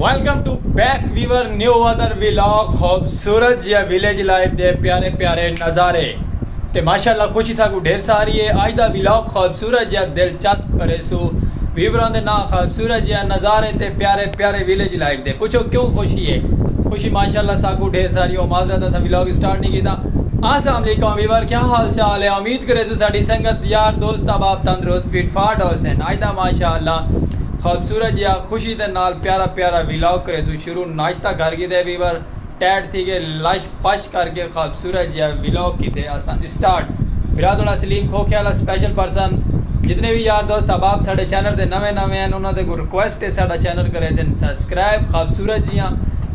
Welcome to back viewer new other vlog خوبصورت یا village life دے پیارے پیارے نظارے تے ماشاءاللہ خوشی ساکو ڈھیر ساری ہے آج دا ویلاگ خوب سورہ جیہاں دلچسپ کریسو ویوراں دے ناں خاص سورہ جیہاں نظارے تے پیارے پیارے ویلیج لائف دے پچھو کیوں خوشی ہے خوشی ماشاءاللہ ساکوں ڈھیر ساری او معذرت اساں ولاگ اسٹارٹ نہیں کیتا السلام علیکم ویور کیا حال چال ہے امید کریسو ساڈی سنگت یار دوست احباب تندرست فٹ فاٹ ہوسن اج دا ماشاءاللہ خوبصورت جیہاں خوشی دے نال پیارا پیارا ولاگ کریسو شروع ناشتہ کر گھدے ویور۔ ٹائٹ تھی گئے لش پش کر کے خوبصورت جیا ولاگ کیتے اساں اسٹارٹ برا تھوڑا سلیم کھوکھے والا سپیشل پرسن جتنے بھی یار دوست احباب ساڈے چینل تے نویں نویں ہیں انہاں دے کو ریکویسٹ ہے ساڈا چینل کرے سن سبسکرائب خوبصورت جیاں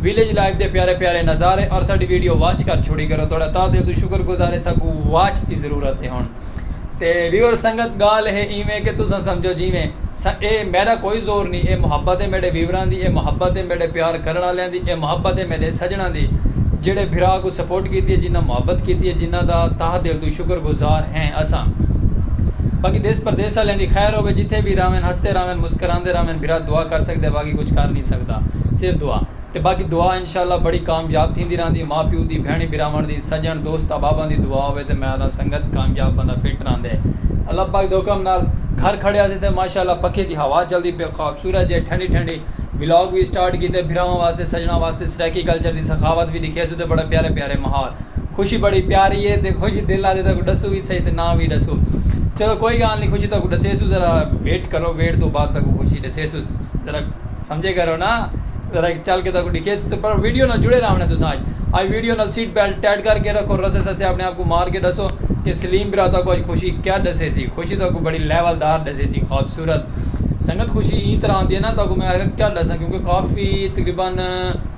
ویلیج لائف دے پیارے پیارے نظارے اور ساڈی ویڈیو واچ کر چھوڑی کرو تھوڑا تاں دل تو شکر گزارے ساکو واچ دی ضرورت ہے ہن تے ریور سنگت گال ہے ایویں کہ تساں سمجھو جیویں اے میڈا کوئی زور نی اے محبت اے میڈے ویوراں دی اے محبت اے میڈے پیار کرن آلیاں دی اے محبت اے میڈے سجناں دی جیڈے بھرا کوں سپورٹ کیتی اے جنہاں محبت کیتی اے جنہاں دا تہہ دل توں شکر گزار ہیں اساں باقی دیس پردیس آلیاں دی خیر ہووے جتھے وی راہون ہسدے راہون مسکراندے راہون بھرا دعا کر سکدے باقی کچھ کر نی سکدا صرف دعا۔ تے باقی دعا انشاءاللہ بڑی کامیاب تھیندی رہندی ماء پیو دی بھینڑیں بھراونڑ دی سجنڑ دوست احباباں دی دعا ہووے تے میں آکھداں سنگت کامیاب بندہ فٹ رہندے اللہ پاک دے حکم نال گھر کھڑیا سی تے ماشاءاللہ پکھے دی ہوا چلدی پئی خواب سورج ہے ٹھنڈی ٹھنڈی ولاگ وی سٹارٹ کیتے بھراواں واسطے سجنڑاں واسطے سرائیکی کلچر دی سخاوت وی ڈکھیا سوں تے بڑے پیارے پیارے ماحول خوشی بڑی پیاری ہے تے خوشی دل آکھدے تہاکوں ڈسوں وی سہی تے نہ وی ڈسوں چلو کوئی گالھ نی خوشی تہاکوں ڈسیسوں ذرا ویٹ کرو ویٹ توں بعد تہاکوں خوشی ڈسیسوں ذرا۔ سمجھے کرو نا ذرا ہک چل کے تہاکوں ڈکھیے تساں پر ویڈیو نال جڑے رہونڑے تساں اج اج ویڈیو نال سیٹ بیلٹ ٹائٹ کر کے رکھو رسے سسے اپنے آپ کوں مار کے ڈسو کہ سلیم برا تہاکوں اج خوشی کیا ڈسے سی خوشی تہاکوں بڑی لیول دار ڈسے سی خوبصورت سنگت خوشی ایں طرح ہوندی ہے نا تہاکوں میں کیا ڈساں کیونکہ کافی تقریبا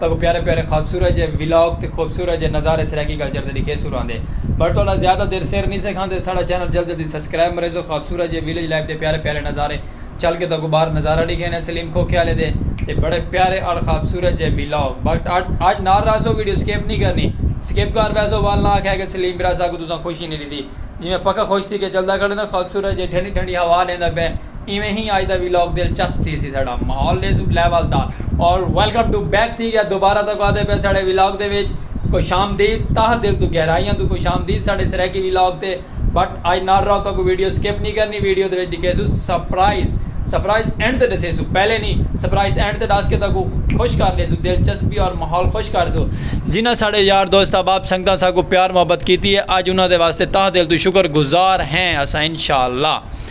تاکوں پیارے پیارے خوبصورت جے ولاگ تے خوبصورت جے نظارے سرائیکی کلچر دے ڈکھیسوں راہندے بٹ تہاڈا زیادہ دیر سر نی سے کھاندے ساڈا چینل جلد جلدی سبسکرائب مریزو خوبصورت جے ویلیج لائف دے پیارے پیارے نظارے چل کے تاکوں باہر نظارہ ڈکھینے سلیم کھوکھیالے دے تے بڑے پیارے اڑ خوبصورت جے ولاگ بٹ اج نال راہسو ویڈیو سکپ نی کرنی سکپ کر ویسو وال نہ آکھیا کہ سلیم برا ساکوں تساں خوشی نی ڈتی جی میں پکا خوش تھی کے چلدا کھڑے نا خوبصورت جے ٹھنڈی ٹھنڈی ہوا لیندا پئے ایویں ہی آج دا ویلاگ دلچسپ تھی سی ساڑا ماحول دے سب لیول دا اور ویلکم ٹو بیک تھی گیا دوبارہ تک آدھے پہ ساڑے ویلاگ دے ویچ کوئی شام دی تاہ دل تو گہرائیاں تو کوئی شام دی ساڑے سریکی ویلاگ تے بٹ آج نار راو تک ویڈیو سکپ نہیں کرنی ویڈیو دے ویچ دکھے سو سپرائز سپرائز اینڈ تے دسے سو پہلے نہیں سپرائز اینڈ تے داس کے تک خوش کر دے سو دلچسپی اور ماحول خوش کر دو جنہ ساڑے یار دوست احباب سنگتاں ساکو پیار محبت کیتی ہے آج انہاں دے واسطے تاہ دل تو شکر گزار ہیں اسا انشاءاللہ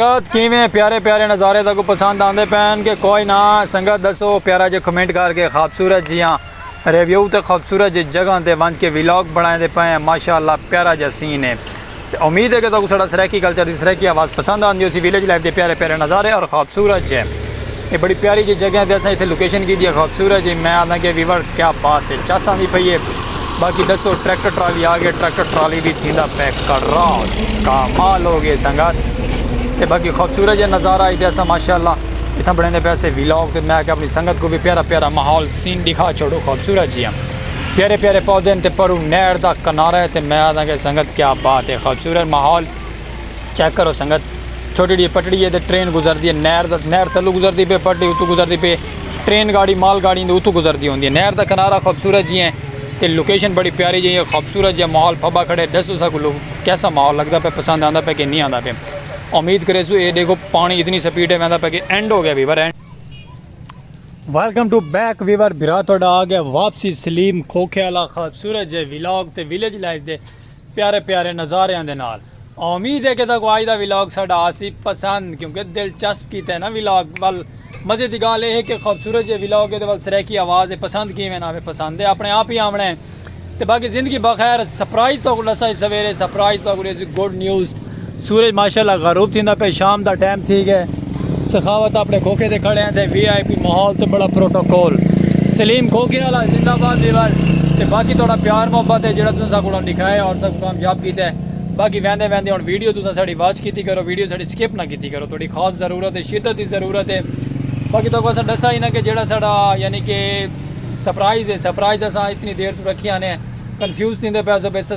سنگت کیویں پیارے پیارے نظارے تاکو پسند آندے پین کہ کوئی نہ سنگت دسو پیارا جے کمنٹ کر کے خوبصورت جیاں ریویو تے خوبصورت جے جگہ تے ونج کے ویلاگ بنائیں دے پین ماشاءاللہ پیارا جا سین ہے تے امید ہے کہ تاکو سڑا سرائیکی کلچر دی سرائیکی آواز پسند آندی ہو سی ویلیج لائف دے پیارے پیارے نظارے اور خوبصورت جے اے بڑی پیاری جی جگہ تے اساں ایتھے لوکیشن کیتی ہے خوبصورت جی میں آنداں کہ ویور کیا بات ہے چس آندی پئی ہے باقی دسو ٹریکٹر ٹرالی آ گئے ٹریکٹر ٹرالی بھی تھیندا پے کراس کامال ہو گئے سنگت تے باقی خوبصورت جی نظارہ ایتھے اساں ماشاءاللہ ایتھاں بڑھیں دے پیسے ویلاگ تے میں کہ اپنی سنگت کو بھی پیارا پیارا ماحول سین دکھا چھوڑو خوبصورت جی ہم پیارے پیارے پودے تے پرو نہر دا کنارہ تے میں آنداں کہ سنگت کیا بات ہے خوبصورت ماحول چیک کرو سنگت چھوٹی ڈی پٹڑی ہے تے ٹرین گزردی ہے نہر دا نہر تھلو گزردی پے پٹڑی اتو گزردی پے ٹرین گاڑی مال گاڑی دے اتو گزردی ہوندی ہے نہر دا کنارہ خوبصورت جی ہیں تے لوکیشن بڑی پیاری جی ہے خوبصورت جی ماحول پھبا کھڑے ڈسو سا کو کیسا ماحول لگدا پے پسند آندا پے کہ نہیں آندا پے امید کرے سو اے دیکھو پانی اتنی سپیڈ ہے ویندا پے کہ اینڈ ہو گیا viewer and welcome to back viewer بھرا تہاڈا آ گیا واپسی سلیم کھوکھے والا خوبصورت جے ولاگ تے ویلیج لائف دے پیارے پیارے نظاریاں دے نال۔ اامید ہے کہ تہاکوں اج دا ولاگ ساڈا آسی پسند کیونکہ دلچسپ کیتا ہے نا ولاگ ول مزے دی گالھ اے ہے کہ خوبصورت جے ولاگ اے تے ول سرائیکی آواز اے پسند کیویں نا آوے پسند تے اپنے آپ ہی آونڑاں اے تے باقی زندگی بخیر سرپرائز تہاکوں ڈساں اج سویرے سرپرائز تہاکوں ڈیسی گڈ نیوز سورج ماشاء اللہ غروب تھیندا پئے شام دا ٹائم تھی گئے سخاوت اپنے کھوکھے تے کھڑے ہیں تے وی آئی پی ماحول تے بڑا پروٹوکول سلیم کھوکھے والا زندہ باد ویور تے باقی تھوڑا پیار محبت ہے جڑا تساں ساکوں دکھایا اور تک کامیاب کیتا ہے باقی ویندے ویندے ہن ویڈیو تساں ساڈی واچ کیتی کرو ویڈیو ساڈی سکپ نہ کیتی کرو تھوڑی خاص ضرورت ہے شدت دی ضرورت ہے باقی تاکوں اساں ڈسا ہی نہ کہ جڑا ساڈا یعنی کہ سرپرائز ہے سرپرائز اساں اتنی دیر تو رکھیا نے کنفیوز تھیندے پئے سو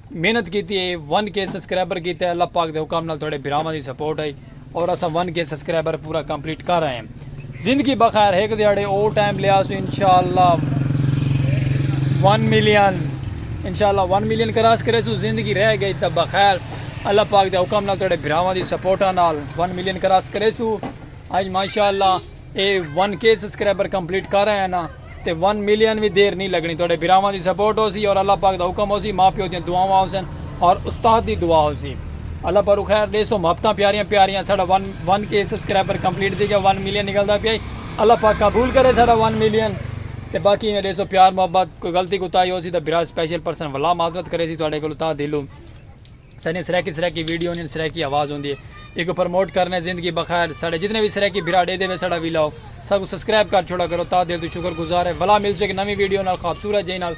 محنت کیتی ہئی ون کے سسکرائبر کیتے اللہ پاک دے حکم نال تہاڈے بھراواں دی سپورٹ ہئی اور اساں ون کے سسکرائبر پورا کمپلیٹ کر آئے ہم زندگی بخیر ہک دیہاڑے او ٹائم لے آسوں انشاءاللہ ون ملین انشاءاللہ ون ملین کراس کریسوں زندگی رہ گئی تاں بخیر اللہ پاک دے حکم نال تہاڈے بھراواں دی سپورٹاں نال ون ملین کراس کریسوں اج ماشاءاللہ اے ون کے سسکرائبر کمپلیٹ کر آیاں نا تے ون ملین وی دیر نی لگنی تہاڈے بھراواں دی سپورٹ ہوسی اور اللہ پاک دا حکم ہوسی ماں پیو دیاں دعاواں ہوسن اور استاد دی دعا ہوسی اللہ پرو خیر ڈیسوں محبتاں پیاریاں پیاریاں ساڈا ون ون کے سسکرائبر کمپلیٹ تھی گیا ون ملین نکلدا پیا ای اللہ پاک قبول کرے ساڈا ون ملین تے باقی ایویں ڈیسوں پیار محبت کوئی غلطی کوتاہی ہوسی تاں بھرا سپیشل پرسن ولا معذرت کریسی تہاڈے کولوں تہہ دلوں۔ ساݙیاں سرائیکی سرائیکی ویڈیو ہوندین سرائیکی آواز ہوندی ہے ایکوں پرموٹ کرݨے زندگی بخیر ساݙے جتنے وی سرائیکی بھرا ݙیدھے وے ساݙا وی لاؤ ساکوں سبسکرائب کر چھوڑا کرو تاں دل توں شکر گزار ہے ولا ملسوں ہک نویں ویڈیو نال خوبصورت جئیں نال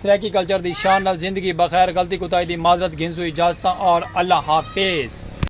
سرائیکی کلچر دی شان نال زندگی بخیر غلطی کوتاہی دی معذرت گھنسوں اجازتاں اور اللہ حافظ۔